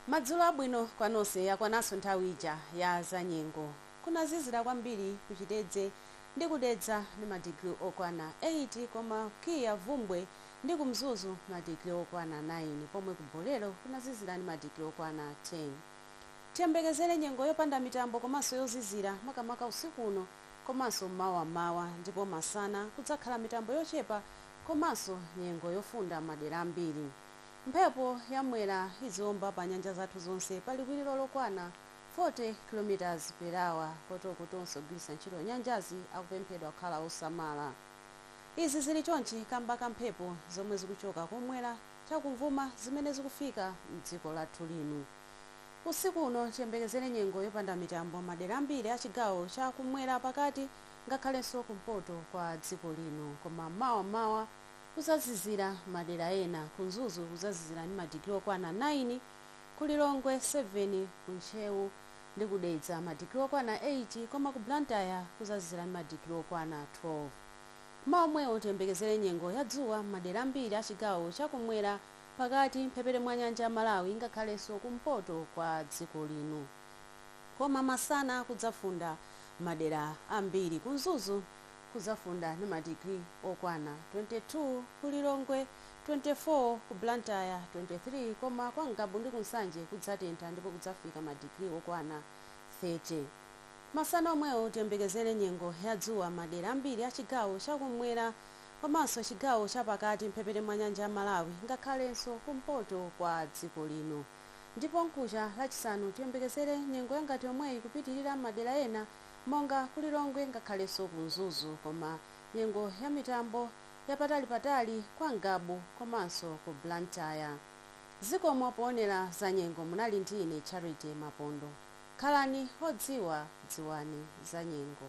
Madzulo abwino kwa nonse yakwananso nthawi ija ya za nyengo. Kunazizira kwambiri ku Chitedze ndi ku Dedza ndi ma degree okwana 8 koma ku KIA, Bvumbwe ndi ku Mzuzu ma degree okwana 9 pomwe ku Bolero kunazizira ndi ma degree okwana 10. Tiyembekezere nyengo yopanda mitambo komanso yozizira makamaka usiku uno komanso mawa m'mawa ndipo masana kudzakhala mitambo yochepa komanso nyengo yofunda m'madera ambiri. Mphepo ya Mwera idziomba pa nyanja zathu zonse pa liwiliro lokwana 40 km per hour kotero kuti onse ogwiritsa ntchito nyanjazi akupemphedwa kukhala osamala. Izi zili chonchi kamba ka mphepo zomwe zikuchoka kumwera chakumvuma zimene zikufika m'dziko lathu lino. Usiku uno tiyembekezere nyengo yopanda mitambo m'madera ambiri a chigawo cha kumwera pakati ngakhalenso kumpoto kwa dziko lino koma mawa mmawa kuzazizira madera ena, ku Mzuzu kuzazizira ndi madigiri okwana 9, ku Lilongwe 7, ku Ntcheu ndi ku Dedza madigiri okwana 8 koma ku Blantyre kuzazizira ndi madigiri okwana 12. Mmawa omwewo tiyembekezere nyengo ya dzuwa m'madera ambiri a chigawo cha kummwera, pakati, mphepete mwa nyanja ya Malawi ngakhalenso kumpoto kwa dziko lino. koma masana kudzafunda madera ambiri. Ku Mzuzu kudzafunda ndi madigiri okwana 22, ku Lilongwe 24, ku Blantyre 23 koma kwa Ngabu ndi ku Nsanje kudzatentha ndipo kudzafika madigiri okwana 30. Masana omwewo tiyembekezere nyengo ya dzuwa m'madera ambiri a chigawo cha kummwera komanso chigawo chapakati m'mphepete mwa nyanja ya Malawi ngakhalenso kumpoto kwa dziko lino. Ndipo mkucha lachisanu tiyembekezere nyengo yangati yomweyi kupitilira mmadera ena monga ku Lilongwe ngakhalenso ku Mzuzu koma nyengo ya mitambo yapatali patali kwa Ngabu komanso ku Blantyre. Zikomo poonera za nyengo munali ndi ine Charity Mapondo. Khalani odziwa dziwani za nyengo.